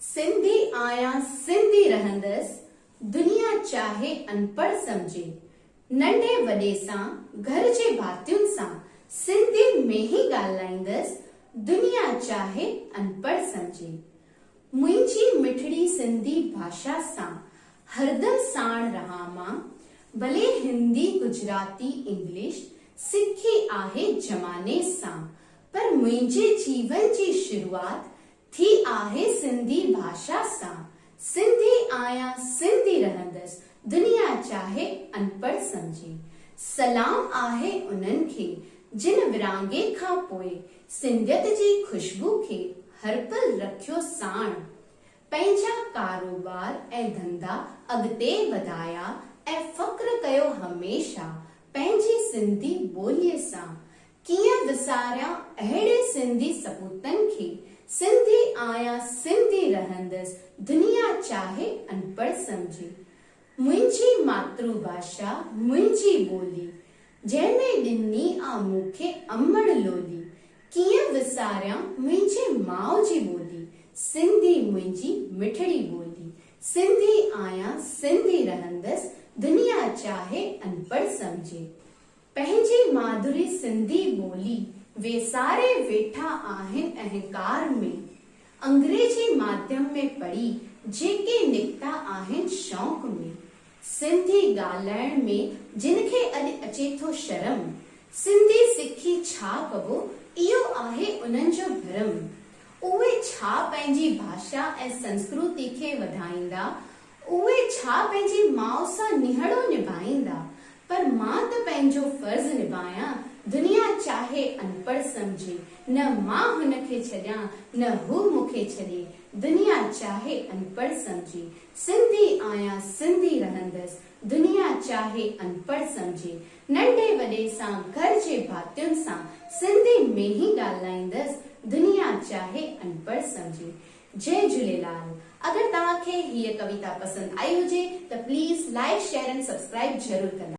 سنڌي آهيان سنڌي رهندس دنيا چاهي انپڙهه سمجهي ننڍي وڏي سان گهر جي ڀاتين سان سنڌي ۾ ئي ڳالهائيندس دنيا چاهي انپڙهه سمجهي منهنجي مٺڙي سنڌي ڀاشا سان هردم ساڻ رهان مان ڀلي هندي گجراتي انگلش سکي آهي زماني سان پر منهنجي جيون جي شروعات ٿي آهي سنڌي ڀاشا سان سنڌي آهيان سنڌي رهندس دنيا چاهي انپڙهه سمجهي سلام آهي انهن کي جن ورهاڱي کان پوء سنڌيت جي خوشبو کي هر پل رکيو ساڻ پنهنجا ڪاروبار ۽ ڌنڌا اڳتي وڌايا ۽ فخر ڪيو هميشه پنهنجي سنڌي ٻولي سان ڪيئن وساريان اهڙي سنڌي سپوتن کي، سنڌي آهيان سنڌي رهندس، دنيا چاهي انپڙهه سمجهي. منهنجي ماترو ڀاشا منهنجي ٻولي، جنهن ۾ ڏني آ مون کي امڙ لولي، ڪيئن وساريان منهنجي ماء جي ٻولي، سنڌي منهنجي مٺڙي ٻولي، سنڌي آهيان سنڌي رهندس، دنيا چاهي انپڙهه سمجهي. پنهنجي مادري سنڌي ٻولي ويساري ويٺا آهن اهنڪار ۾ انگريزي ماڌيم ۾ پڙهي جيڪي نڪتا آهن شوق ۾ سنڌي ڳالهائڻ ۾ جن کي اڄ اچي ٿو شرم سنڌي سکي ڇا ڪبو اهو آهي انهن جو ڀرم اهي ڇا پنهنجي ڀاشا ۽ سنسڪرتي کي وڌائيندا اهي ڇا پنهنجي ماء سان نهڙو نڀائيندا، پر مان ته پنهنجو فرض نڀايان، دنيا چاهي انپڙهه سمجهي، نه مان هن کي ڇڏيان، نه هو مون کي ڇڏي، دنيا چاهي انپڙهه سمجهي، سنڌي آهيان سنڌي رهندس، دنيا چاهي انپڙهه سمجهي، ننڍي وڏي سان گهر جي ڀاتين سان سنڌي ۾ ئي ڳالهائيندس، دنيا چاهي انپڙهه سمجهي، جئي جهوليلال اگر توهان کي هيء ڪويتا پسند آئي هجي ته پليز لائيڪ شيئر ۽ سبسڪرائيب ضرور ڪندا.